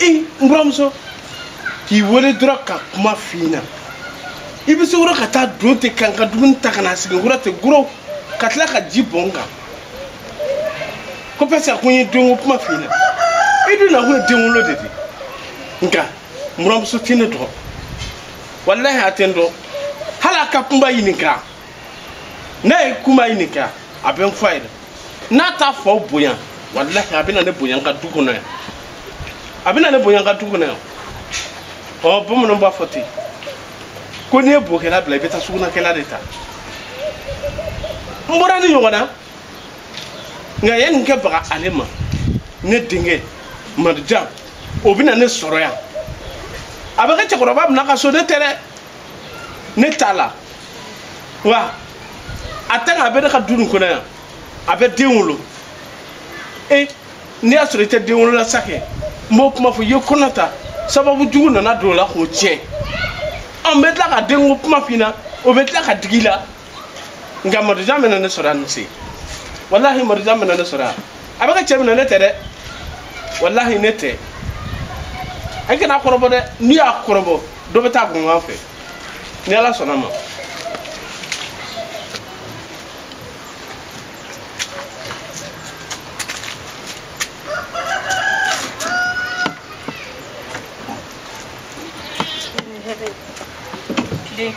ee n buranmuso k'i wele dɔrɔn ka kuma f'i ɲɛna i bɛ se o la ka taa don ten ka n ka dumuni ta ka na sigi n kɔrɔ ten goro ka tila ka ji bɔn n kan ko parce que a ko n ye denko kuma f'i ɲɛna i dun nakun ye denwolo de ye nka n buranmuso tɛ ne dɔn walahi a tɛ n dɔn hali a ka kunba ɲininka n'a ye kunba ɲininka a bɛ n fɔ a ye dɛ n'a t'a faw bonya walahi a bɛna ne bonya n ka du kɔnɔ yan a bɛna ne bonya n ka du kɔnɔ yan ɔ bamananw b'a fɔ ten ko n'i ye bokɛla bila i bɛ taa sugunakɛla de ta n bɔra nin ɲɔgɔn na nka ye nin kɛ baga ale ma ne denkɛ marijan o bɛna ne sɔrɔ yan a bɛ kɛ cɛkɔrɔba bɛna ka so ne tɛ dɛ ne t'a la wa a tɛ nka a bɛ ne ka du nin kɔnɔ yan a bɛ den wolo e n'i y'a sɔrɔ i tɛ den wolo la sa kɛ n b'o kuma fɔ i ye kɔnɔ ta sababu jugu nana don o la k'o tiɲɛ an bɛ tila ka denko kuma f'i ɲɛna o bɛ tila ka digi i la nka marijan bɛna ne sɔrɔ yan nin se walahi marijan bɛna ne sɔrɔ yan a bɛ ka cɛ minɛ ne tɛ dɛ walahi ne tɛ an kan'a kɔrɔbɔ dɛ n'i y'a kɔrɔbɔ dɔ bɛ taa kunkan fɛ ni ala sɔnna ma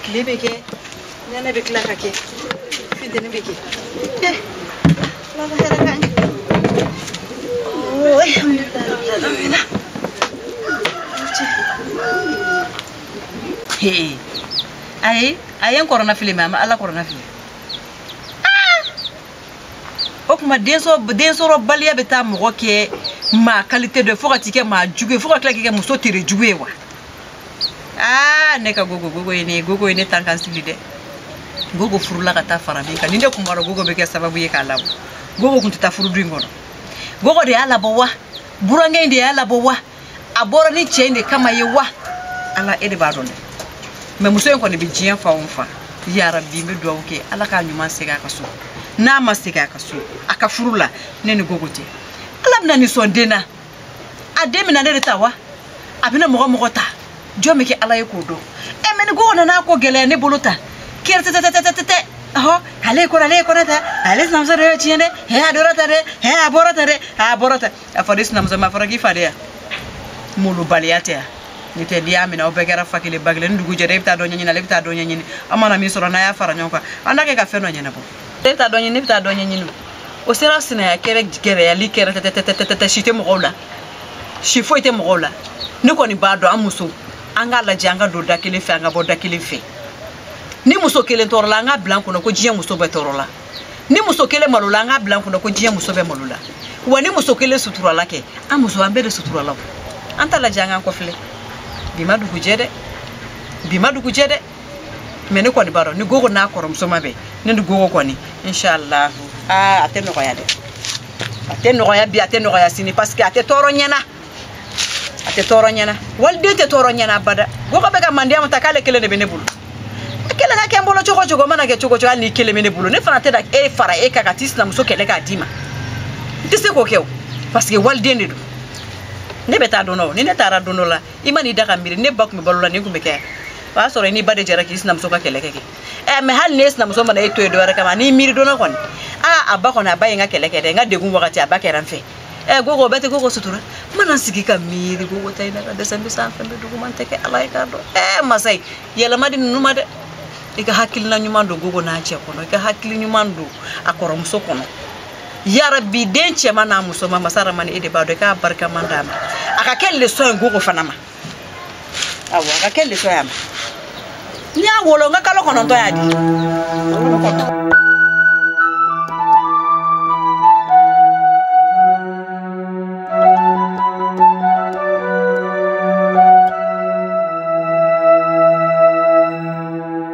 tile bɛ kɛ nɛnɛ bɛ tila ka kɛ finteni bɛ kɛ ala ka hɛrɛ k'an ye ayi a ye n kɔnɔnafili mɛ a ma ala kɔnɔnafili o tuma densɔrɔbaliya bɛ taa mɔgɔ kɛ maa kalite dɔ ye fo ka t'i kɛ maa jugu ye fo ka tila k'i kɛ muso tere jugu ye wa aa ne ka gogo gogo ye ne ye gogo ye ne tan kan sili dɛ gogo furula ka taa fara bi kan ni ne kun b'a dɔn gogo bɛ kɛ sababu ye k'a labɔ gogo kun tɛ taa furudu in kɔnɔ gogo de y'a labɔ wa burankɛ in de y'a labɔ wa a bɔra ni cɛ in de kama ye wa ala e de b'a dɔn dɛ mɛ muso in kɔni bɛ diɲɛ fan o fan yarabi n bɛ dugawu kɛ ala k'a ɲuman segin a ka so n'a ma segin a ka so a ka furu la ne ni gogo tɛ ala bɛna ne sɔn den na a den bɛna ne de ta wa a bɛna mɔgɔ mɔgɔ ta jɔn bɛ kɛ ala ye k'o dɔn ɛ mɛ ni ko nana ko gɛlɛya ne bolo ta kɛrɛtɛtɛ ɔhɔ ale ye kɔnɔ ale ye kɔnɔ ta ale sinamuso de y'o tiɲɛ dɛ hɛ a dɔrɔ ta dɛ hɛ a bɔrɔ ta dɛ a bɔrɔ ta a fɔ de sinamuso ma a fɔra k'i fadenya malobaliya tɛ yan ni tɛ n'i y'a minɛ aw bɛɛ kɛra fa kelen ba kelen ni dugu jɛra e bɛ taa dɔ ɲɛɲini ale bɛ taa dɔ ɲɛɲini an mana min sɔrɔ n'an y'a fara ɲɔgɔn kan an n'a kɛ ka fɛn dɔ ɲɛnabɔ ne bɛ taa dɔ ɲini ne bɛ taa dɔ ɲɛɲini o sera sinaya kɛlɛ gɛrɛyali kɛrɛ tɛtɛtɛtɛtɛ si tɛ mɔgɔw la si foyi tɛ mɔgɔw la ne kɔni b'a dɔn an muso an k'a lajɛ an ka don da kelen fɛ an ka bɔ da kelen fɛ ni muso kelen tɔɔrɔla an k'a bila an kɔnɔ ko diɲɛ muso bɛɛ tɔɔrɔla ni muso kelen malola an k'a bila an kɔnɔ ko diɲɛ muso bɛɛ malola wa ni muso kelen suturala kɛ an muso an bɛɛ de suturala an t'a lajɛ an k'an kɔfilɛ bi ma dugujɛ dɛ bi ma dugujɛ dɛ mɛ ne kɔni b'a dɔn ni gogo n'a kɔrɔmuso ma bɛn ne ni gogo kɔni inshallah aa a tɛ nɔgɔya dɛ a tɛ nɔgɔya bi a tɛ nɔgɔya sini parce que a tɛ tɔɔrɔ n ɲɛna a tɛ tɔɔrɔ n ɲɛna waliden tɛ tɔɔrɔ n ɲɛna abada gogo bɛ ka mandiya ta k'ale kelen de bɛ ne bolo a kelen ka kɛ n bolo cogo cogo mana kɛ cogo cogo hali n'i kelen bɛ ne bolo ne fana tɛ taa fara e kan ka t'i sinamuso kɛlɛ k'a d'i ma n tɛ se k'o kɛ o parce que waliden de don ne bɛ taa don dɔ ni ne taara don dɔ la i man'i da ka miiri ne ba tun bɛ balo la nin tun bɛ kɛ o y'a sɔrɔ i n'i ba de jɛra k'i sinamuso ka kɛlɛ kɛ kɛ ɛ mɛ hali n'e sinamuso mana e to yen dɔwɛrɛ kama n'i miiri donna kɔni aa a ba kɔni a ba ye n ka kɛlɛ kɛ dɛ n ka degun wagati a ba kɛra n fɛ ɛ gogo bɛɛ tɛ gogo sutura n mana sigi ka miiri gogo ta in na ka dɛsɛ n bɛ sanfɛ n bɛ duguma n tɛ kɛ ala ye k'a dɔn ɛ masa ye yɛlɛma di ninnu ma dɛ i ka hakilina ɲuman don gogo n'a cɛ kɔnɔ i ka hakili ɲuman don a kɔrɔmuso kɔnɔ yarabi den cɛman n'a musoman masa ramani e de b'a dɔn i k'a barikaman d'a ma a ka kɛ lesɔn ye gogo fana ma awɔ a ka kɛ lesɔn ye a ma n y'a wolo n ka kalo kɔnɔntɔn y'a di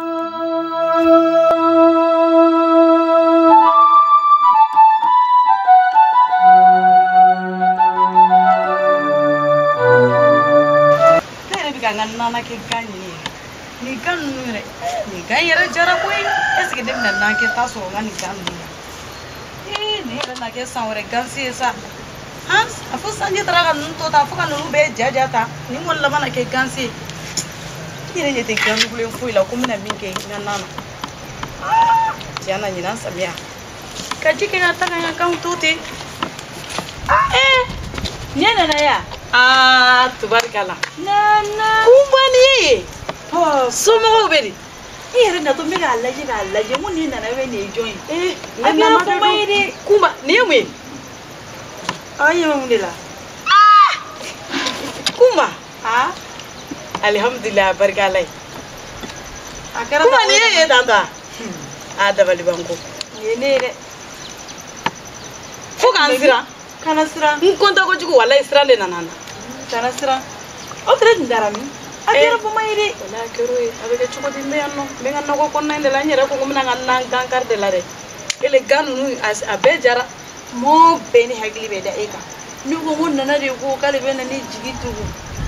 ne yɛrɛ bɛ ka n ka nan na kɛ gan ɲini ye nin gan ninnu yɛrɛ nin gan yɛrɛ jara koyi ɛseke ne bɛna nan kɛta sɔrɔ n ka nin gan ninnu ee nin yɛrɛ na kɛ san wɛrɛ gansi ye sa han a fo sanji taara ka ninnu to tan fo ka ninnu bɛɛ jaja tan nin kɔni laban na kɛ gansi ye n yɛrɛ ɲɛ tɛ gandugulen foyi la ko n bɛna min kɛ n ka nan na tiɲɛ na ɲinan samiya ka ji kɛ ka taga n ka ganw to ten ee ɲɛ nana yan aa tubarikala kunba nin ye somɔgɔw bɛ di i yɛrɛ natɔ n bɛ k'a lajɛ k'a lajɛ n ko nin nana bɛ nin ye jɔn ye ee a kɛra kunba ye dɛ kunba nin ye mun ye aw ɲɛ bɛ mun de la kunba aa alihamudulila barika ala ye a kɛra kuma nin ye ye tan ta a dabalibanko nin ye ne yɛrɛ fo ka n siran kana siran n kɔntan kojugu walayi siran dɛ nana kana siran aw tere tun dara min a kɛra bama ye dɛ wala a kɛra ye a bɛ kɛ cogo di n bɛ yan nɔ n bɛ n ka nakɔ kɔnɔna in de la n yɛrɛ ko ko n bɛna n ka na gan kari de la dɛ ele gan ninnu a bɛɛ jara mɔɔ bɛɛ ni hakili bɛ da e kan ne ko ko nana de ko k'ale bɛ na ne jigi tugu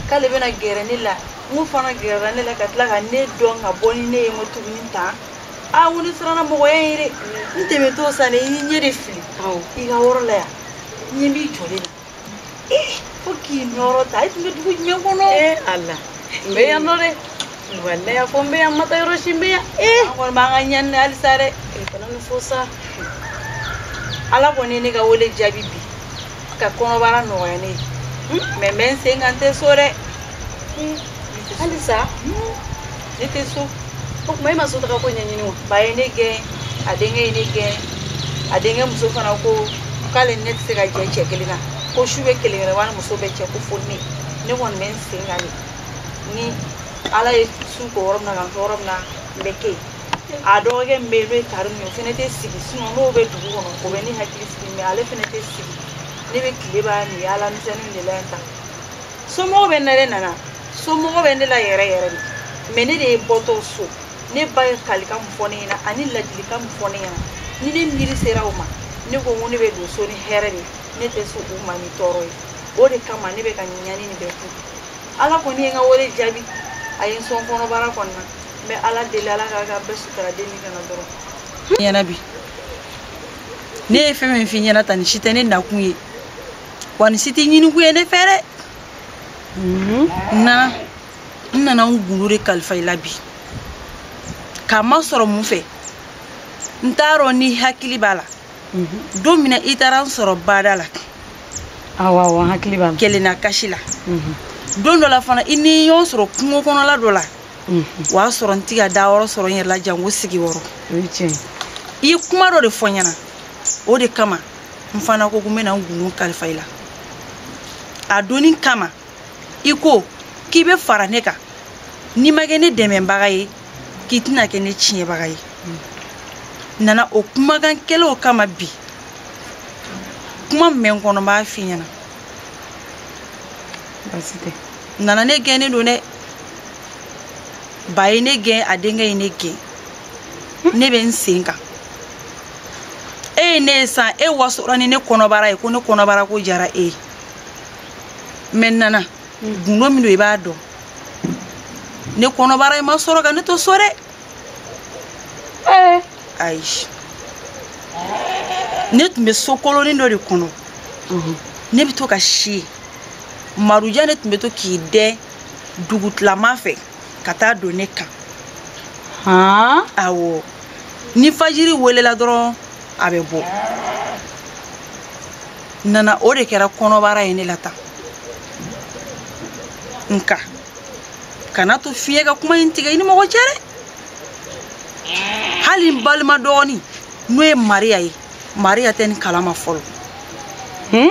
k'ale bɛna gɛrɛ ne la n k'o fana gɛrɛra ne la ka tila ka ne dɔn ka bɔ ni ne ye n ko tuguni tan a kɔni siranna mɔgɔya ɲɛ dɛ n tɛmɛtɔ sa ne ye n ɲɛ de fili i ka yɔrɔ la yan n ɲɛ b'i jɔlen na fo k'i nɔrɔ ta i tun bɛ dugu jumɛn kɔnɔ ee ala n bɛ yan nɔ dɛ walayi a fɔ n bɛ yan n ma taa yɔrɔ si n bɛ yan ee an kɔni b'an ka ɲani na halisa dɛ kana nin fɔ sa ala kɔni ye ne ka wele jaabi bi ka kɔnɔbara nɔgɔya ne ye mɛ n bɛ n sen kan n tɛ so dɛ halisa ne tɛ so o tuma e ma so taga ko ɲɛɲini wa ba ye ne gɛn a denkɛ ye ne gɛn a denkɛ muso fana ko k'ale ni ne tɛ se ka jɛ cɛ kelen na ko su bɛ kelen kelen wani muso bɛ cɛ ko fo ne ne kɔni bɛ n sen kan de ni ala ye su ko yɔrɔ min na ka n to yɔrɔ min na n bɛ kɛ yen a dɔgɔkɛ min bɛ yen n'o ye karimu ye o fana tɛ sigi n'o bɛ dugu kɔnɔ o bɛ ne hakili sigi mɛ ale fana tɛ sigi ne bɛ tile ban yaala misɛnninw de la yen tan somɔgɔw bɛ n na dɛ nana somɔgɔw bɛ ne la yɛrɛ yɛrɛ de mɛ ne de bɔtɔ so ne ba ye kalikan min fɔ ne ɲɛna ani ladilikan min fɔ ne ɲɛna ni ne miiri sera o ma ne ko n ko ne bɛ don so ni hɛrɛ de ne tɛ so u ma ni tɔɔrɔ ye o de kama ne bɛ ka ɲani nin bɛɛ kun ala kɔni ye n ka wele jaabi a ye n sɔn kɔnɔbara kɔnɔna n bɛ ala deli ala ka bɛɛ sutura den nin kana tɔɔrɔ n ɲɛna bi ne ye fɛn min f'i ɲɛna tan nin si tɛ ne nakun ye wa nin si tɛ ɲinikun ye ne fɛ dɛ nana n nana n gundo de kalifa i la bi k'a masɔrɔ mun fɛ n t'a dɔn n'i hakili b'a la don min na i taara n sɔrɔ bada la awɔ n hakili b'a la kelenna kasi la don dɔ la fana i ni ɲɔgɔn sɔrɔ kungo kɔnɔla dɔ la o y'a sɔrɔ n ti ka da yɔrɔ sɔrɔ n yɛrɛ la janko sigi yɔrɔ i ye kuma dɔ de fɔ n ɲɛna o de kama n fana ko ko n bɛna n gundo kalifa i la a donni kama i ko k'i bɛ fara ne kan n'i ma kɛ ne dɛmɛbaga ye k'i tɛna kɛ ne tiɲɛbaga ye n nana o kumakan kelen kama bi kuma min bɛ n kɔnɔ n b'a f'i ɲɛna baasi tɛ nana ne gɛnnen don dɛ ba ye ne gɛn a denkɛ ye ne gɛn ne bɛ n sen kan e ye ne ye sa e wasora ni ne kɔnɔbara ye ko ne kɔnɔbara ko diyara e ye mɛ nana gundo min don i b'a dɔn ne kɔnɔbara in ma sɔrɔ ka ne to so dɛ eh. ayi ne tun bɛ so kolonin dɔ de kɔnɔ mhm. ne bɛ to ka si marujan ne tun bɛ to k'i dɛn dugutilama fɛ ka taa don ne kan awɔ ni fajiri welela dɔrɔn a bɛ bɔ nana o de kɛra kɔnɔbara ye ne la tan nka kana to fiɲɛ ka kuma in tigɛ i ni mɔgɔ cɛ dɛ hali n balima dɔgɔnin n'o ye mariya ye mariya tɛ nin kalama fɔlɔ hmm?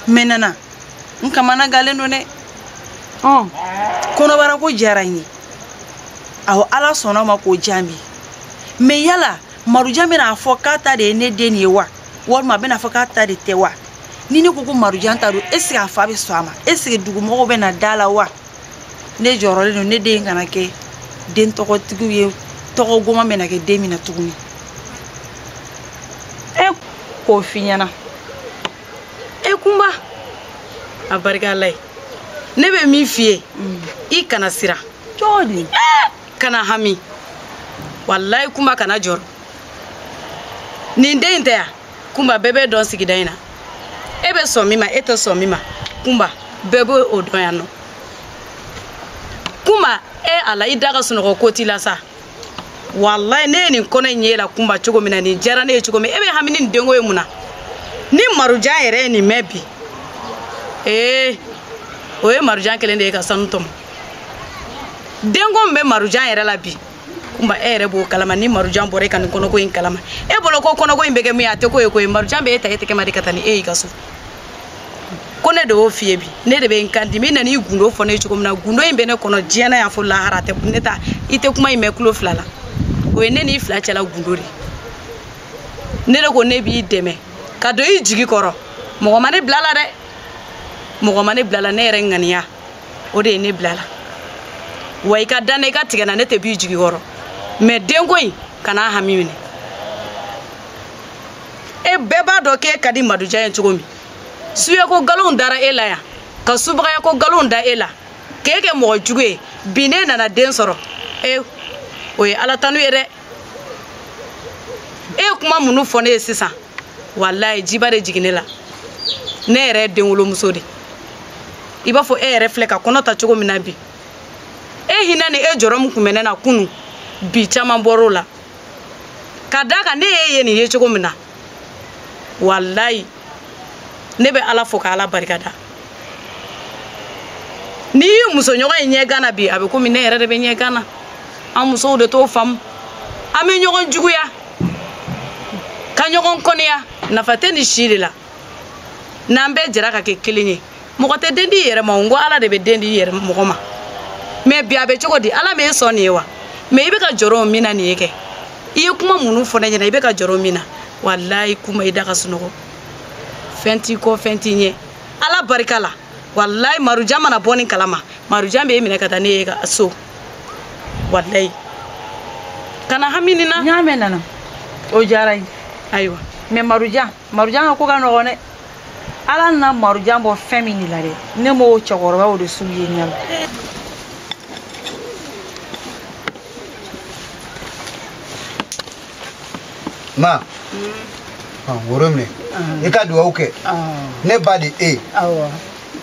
mɛ nana n kamanagannen don dɛ oh. kɔnɔbara ko diyara n ye awɔ ala sɔnna a ma k'o jaabi mɛ yala marujan bɛn'a fɔ k'a ta de ye ne den ye wa walima a bɛn'a fɔ k'a ta de tɛ wa ni ne ko ko marujan ta don eseke a fa bɛ sɔn a ma eseke dugumɔgɔw bɛna da a la wa ne jɔrɔlen don ne den kana kɛ den tɔgɔtigi ye tɔgɔ goman bɛna kɛ den min na tuguni e k'o f'i ɲɛna e kunba a barika ala ye ne bɛ min f'i ye mm. i kana siran cogo di kana hami wallahi kunba kana jɔrɔ nin den in tɛ ya kunba bɛɛ b'e dɔn sigida in na e bɛ sɔn min ma e tɛ sɔn min ma kunba bɛɛ bɛ o dɔn yan nɔ kunba e ala i da ka sunɔgɔ ko t'i la sa wallahi ne ye nin kɔnɔ in y'e la kunba cogo min na nin diyara ne ye cogo min e bɛ hami ni nin denko ye mun na ni marujan yɛrɛ ye nin mɛn bi ee o ye marujan kɛlen de ye ka sanu tɔmɔ denko min bɛ marujan yɛrɛ la bi kunba e yɛrɛ b'o kalama ni marujan bɔra e ka nin kɔnɔko in kalama e bolo ko kɔnɔko in bɛ kɛ min ye a tɛ ko ye ko ye marujan bɛ e ta e tɛgɛ ma de ka taa ni e y'i ka so ko ne de y'o f'i ye bi ne de bɛ n kan d'i ma i nana i gundo fɔ ne ye cogo min na gundo in bɛ ne kɔnɔ diɲɛ na yan fo lahara tɛ ne ta i tɛ kuma in mɛn tulo fila la o ye ne n'i fila cɛla gundo de ne de ko ne b'i dɛmɛ ka don i jigi kɔrɔ mɔgɔ ma ne bila a la dɛ mɔgɔ ma ne bila a la ne yɛrɛ ŋaniya o de ye ne bila a la wa i ka da n na i ka tigɛ n na ne tɛ b'i jigi kɔrɔ mɛ denko in kana hami minɛ e bɛɛ b'a dɔn k'e ka di marujan ye cogo min suyako nkalonw dara e la yan ka subagayako nkalonw da e la k'e kɛ mɔgɔ jugu ye bi n'e nana den sɔrɔ e o ye ala tanu ye dɛ e ye kuma minnu fɔ ne ye sisan walayi jiba de jigin ne la ne yɛrɛ ye denwolomuso de i b'a fɔ e yɛrɛ filɛ ka kɔnɔ ta cogo min na bi e hinɛ ni e jɔrɔ min tun bɛ ne na kunu bi caman bɔr'o la ka da kan ne y'e ye nin ye cogo min na walayi ne bɛ ala fo ka ala barika da n'i y'i musoɲɔgɔn ye ɲɛgan na bi a bɛ komi ne yɛrɛ de bɛ ɲɛgan na an musow de t'o faamu an bɛ ɲɔgɔn juguya ka ɲɔgɔn kɔniya nafa tɛ nin si de la n'an bɛɛ jɛra ka kɛ kelen ye mɔgɔ tɛ den di i yɛrɛ ma o n ko ala de bɛ den di i yɛrɛ mɔgɔ ma mɛ bi a bɛ cogo di ala m'e sɔn nin ye wa mɛ i bɛ ka jɔrɔ min na nin ye kɛ i ye kuma minnu fɔ ne ɲɛna i bɛ ka jɔrɔ min na walayi kunba i da ka sunɔgɔ fɛn t'i kɔ fɛn t'i ɲɛ ala barika la walayi marujan mana bɔ nin kalama marujan bɛ e minɛ ka taa n'e ye ka so walayi kana hami nin na n y'a mɛn nana o diyara n ye ayiwa mɛ marujan marujan ka ko ka nɔgɔn dɛ ala nana marujan bɔ fɛn min de la dɛ ne m'o cɛkɔrɔba o de sugu ye ɲɛ la ma woro minɛ i ka duwawu kɛ ne ba de e ye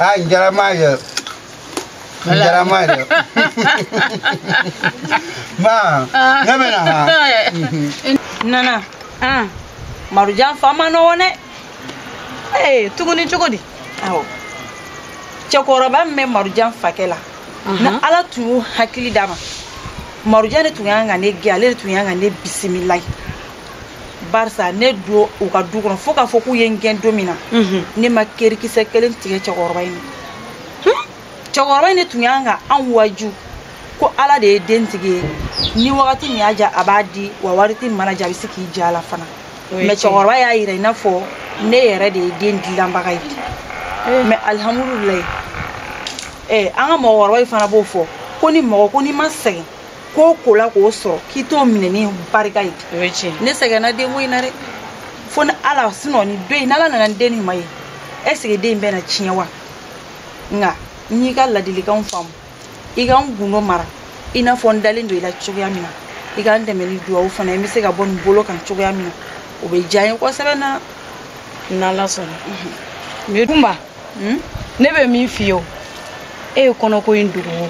ah njaramayo njaramayo ma ne bɛ na ha nana ah marujan fa ma nɔgɔn dɛ ee tuguni cogo di awɔ cɛkɔrɔba min bɛ marujan fakɛ la ni ala tun y'o hakili d'a ma marujan de tun y'an ka ne gɛn ale de tun y'an ka ne bisimilayi barisa ne don u ka du kɔnɔ fo k'a fɔ k'u ye n gɛn don min na mhm. ne ma kerikisɛ kelen tigɛ cɛkɔrɔba in na cɛkɔrɔba in de tun y'an ka an waju ko ala de ye den tigi ye ni wagati min y'a diya a b'a di wa wagati min man'a diya a bɛ se k'i ja a la fana mɛ cɛkɔrɔba y'a yira i n'a fɔ ne yɛrɛ de ye den dilanbaga ye eh. mɛ alihamudulilayi eh, an ka mɔgɔkɔrɔba in fana b'o fɔ ko ni mɔgɔ ko n'i ma sɛgɛn ko ko la k'o sɔrɔ k'i t'o minɛ ni barika ye o ye tiɲɛ ne sɛgɛnna denko in na dɛ fo ni ala sinɔ ni don in n'ala nana ni den nin ma ye est ce que den in bɛna tiɲɛ wa nka n y'i ka ladilikanw faamu i ka n gundo mara i n'a fɔ n dalen don i la cogoya min na i ka n dɛmɛ ni duwawu fana ye n bɛ se ka bɔ nin bolo kan cogoya min na o bɛ diya n ye kosɛbɛ na n'ala sɔnna mɛ kunba hmm? ne bɛ min f'i ye o e ye kɔnɔko in dogo o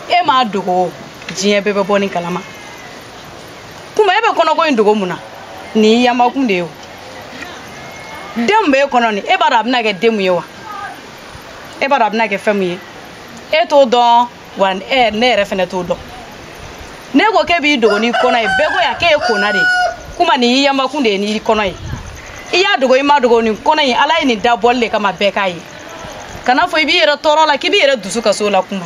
e m'a dogo o diɲɛ bɛɛ bɛ bɔ nin kalama kunba e bɛ kɔnɔko in dogo mun na nin y'i yamakun de ye o den min b'e kɔnɔ nin e b'a dɔn a bɛna kɛ den mun ye wa e b'a dɔn a bɛna kɛ fɛn mun ye e t'o dɔn wa ɛ ne yɛrɛ fɛnɛ t'o dɔn ne ko k'e b'i dogo n'i kɔnɔ ye bɛɛ ko yan k'e ye kona de ye kunba nin y'i yanbakun de ye n'i kɔnɔ ye i y'a dogo i ma dogo nin kɔnɔ in ala ye nin dabɔli de kama bɛɛ k'a ye kana fɔ i b'i yɛrɛ tɔɔrɔ la k'i b'i yɛrɛ dusu kasi o la kunba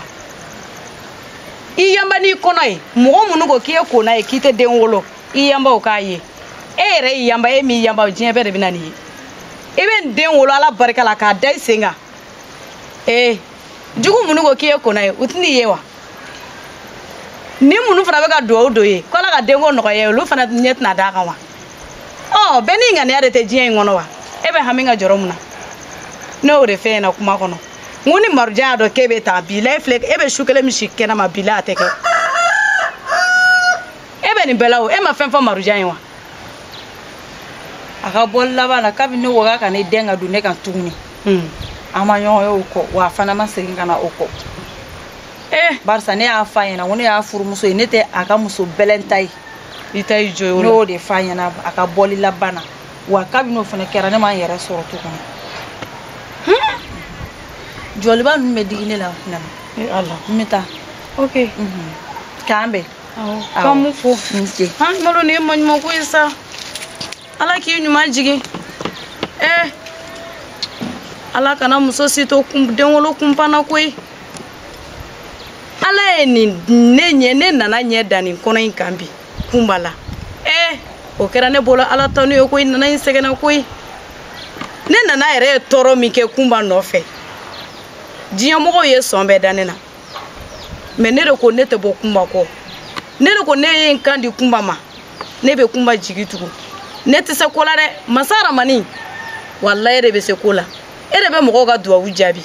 i yanba n'i kɔnɔ ye mɔgɔ minnu ko k'i ye kona ye k'i tɛ den wolo i yanba u k'a ye e yɛrɛ y'i yanba e m'i yanba diɲɛ bɛɛ de bɛ na nin ye i bɛ nin den wolo ala barika la k'a da i sen kan ee jugu minnu ko k'i ye kona ye u tɛn'i ye wa ni minnu fana bɛ ka duwawu don i ye ko ala ka denko nɔgɔya olu fana ɲɛ tɛna d'a kan wa ɔ bɛɛ n'i ŋaniya de tɛ diɲɛ in kɔnɔ wa e bɛ hami ka jɔrɔ mun na ne y'o de f'e ɲɛna kuma kɔnɔ n ko ni marujan y'a dɔn k'e bɛ taa bi la e filɛ e bɛ su kelen min si kɛnɛma bi la a tɛ kɛ e bɛ nin bɛɛ la o e ma fɛn fɔ marujan ye wa a ka bɔli labanna kabini ne ko k'a ka ne den ka don ne kan tuguni hmm. an ma ɲɔgɔn ye o kɔ wa a fana ma segin ka na o kɔ eh. barisa ne y'a f'a ɲɛna ko ne y'a furumuso ye ne tɛ a ka muso bɛlɛn ta ye i ta y'i jɔ ne y'o de f'a ɲɛna a ka bɔli labanna wa kabini o fana kɛra ne ma n yɛrɛ sɔrɔ tuguni hmm. jɔliba ninnu bɛ digi ne la nana eh, n bɛ taa ok mhm. k'an bɛn k'an mun fo malo nin ye maɲumanko ye sa ala k'i ɲuman jigin ee eh, ala kana muso si to denwolo kunpan na koyi ala ye nin ne ɲɛ ne nana ɲɛ da nin kɔnɔ in kan bi kunba la ee eh, o kɛra ne bolo ala tanu ye koyi nana in sɛgɛnna koyi ne nana yɛrɛ ye tɔɔrɔ min kɛ kunba nɔfɛ diɲɛmɔgɔw ye sɔn bɛɛ da ne na mais ne de ko ne tɛ bɔ kunba kɔ ne de ko ne ye n kan di kunba ma ne bɛ kunba jigi tugu ne tɛ se ko la dɛ masa ramani walayi e de bɛ se ko la e de bɛ mɔgɔw ka duwawu jaabi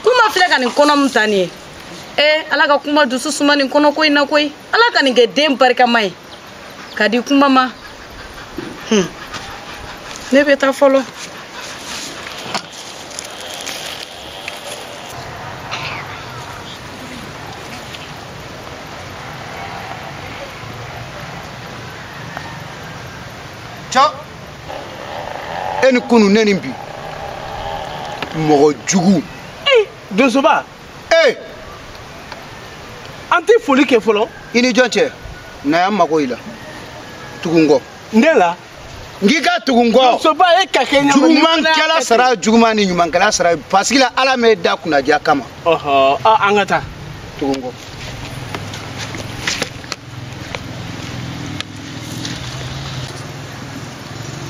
kunba filɛ ka nin kɔnɔ min ta nin ye ee ala ka kunba dusu suma nin kɔnɔko in na koyi ala ka nin kɛ den barikama ye ka di kunba ma hmm. ne bɛ taa fɔlɔ ca e ni kunu ne ni bi mɔgɔ jugu eh, donsoba ee an tɛ foli kɛ fɔlɔ i ni jɔn cɛ na yan mago i la tugu n kɔ n de la n k'i ka tugu n kɔ donsoba ye ka kɛ ɲama jugumankɛla sara juguman ni ɲumankɛla sara parce que la ala m'e da kunnaja kama ɔhɔ ah, an ka taa tugu n kɔ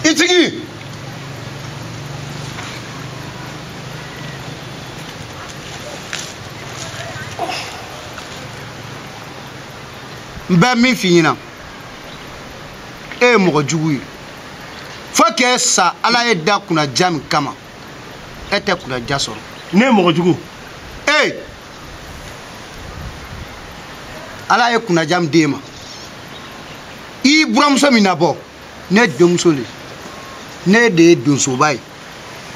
i tigi n bɛ min f'i ɲɛna e ye mɔgɔ jugu ye fo k'e sa ala y'e da kunnaja min kama e tɛ kunnaja sɔrɔ ne ye mɔgɔ jugu ee ala ye kunnaja min d'e ma i buramuso min na bɔ ne denmuso le ne de ye donsoba ye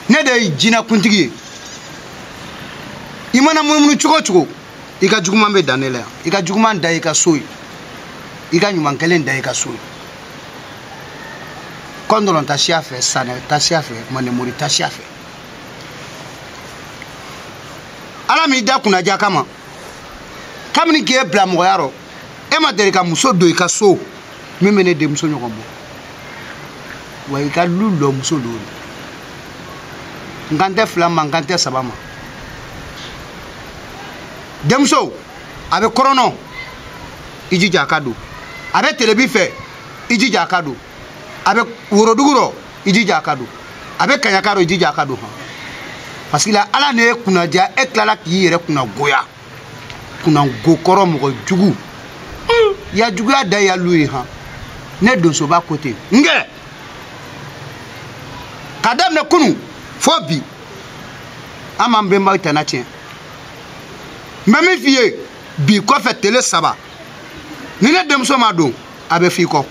ne de ye jinakuntigi ye i mana munumunu cogo cogo i ka juguman bɛ dan ne la yan i ka juguman dan y'i ka so ye i ka ɲuman kelen dan y'i ka so ye kɔndɔlɔn ta siya fɛ sanɛ ta siya fɛ mandenmori ta siya fɛ ala m'i da kunnaja kama kabini k'e bila mɔgɔya rɔ e ma deli ka muso don i ka so min bɛ ne denmuso ɲɔgɔn bɔ wa i ka lu lɔ muso don n kan tɛ fila ma n kan tɛ saba ma denmuso a bɛ kɔrɔn nɔ i jija a ka don a bɛ telebi fɛ i jija a ka don a bɛ worodugu rɔ i jija a ka don a bɛ kaɲaka rɔ i jija a ka don hɔn parce que la ala ne y'e kunna diya e tilala k'i yɛrɛ kunna goya kunnago kɔrɔ mɔgɔ jugu hmm. ya juguya dan ya lu ye han ne donsoba ko ten n kɛ ka daminɛ kunu fo bi an m'an bɛnbaw tana tiɲɛ n bɛ min f'i ye bi kɔfɛ tele saba ni ne denmuso ma don a bɛ f'i kɔ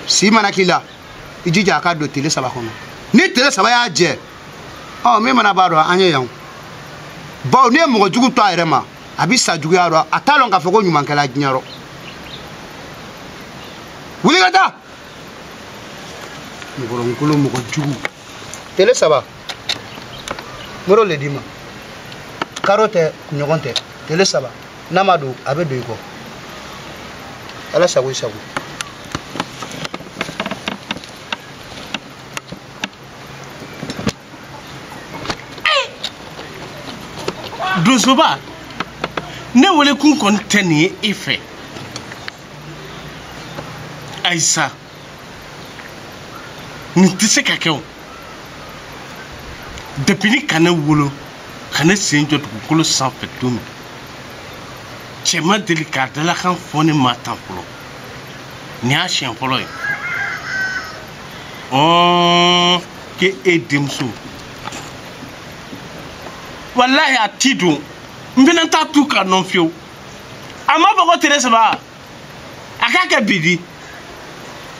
si mana k'i la i jija a ka don tele saba kɔnɔ ni tele saba y'a jɛ ɔ min mana b'a dɔ an ye yan bawo n'i ye mɔgɔ jugu to a yɛrɛ ma a bi sa juguya rɔ a t'a dɔn k'a fɔ ko ɲuman kɛla diɲɛ rɔ wuli ka taa mɔgɔlankolon mɔgɔ jugu tele saba n bar'o le d'i ma karo tɛ kunɲɔgɔn tɛ tele saba n'a ma don a bɛ don i kɔ ala sago i sago donsoba ne wele kun kɔni tɛ nin ye e fɛ ayisa nin tɛ se ka kɛ o depuis ni ka ne wolo ka ne sen jɔ dugukolo sanfɛ don min cɛ ma deli k'a dalakan fɔ ne ma tan fɔlɔ nin y'a siɲɛ fɔlɔ ye ɔn ko e denmuso walahi a ti don n fana t'a tugu a nɔ fiyewu a ma fɔ ko tere saba a k'a kɛ bi di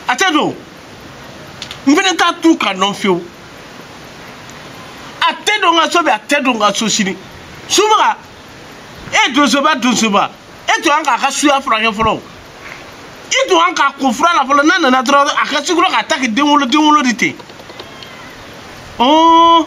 a tɛ don n fana t'a to ka nɔn fewu a tɛ don n ka so bi a tɛ don n ka so sini subaga e donsoba donsoba e to an k'a ka suya furakɛ fɔlɔ i to an k'a ko fura la fɔlɔ n'a nana dɔrɔn a ka sikoro k'a ta k'i den wolo den wolo de ten ɔɔ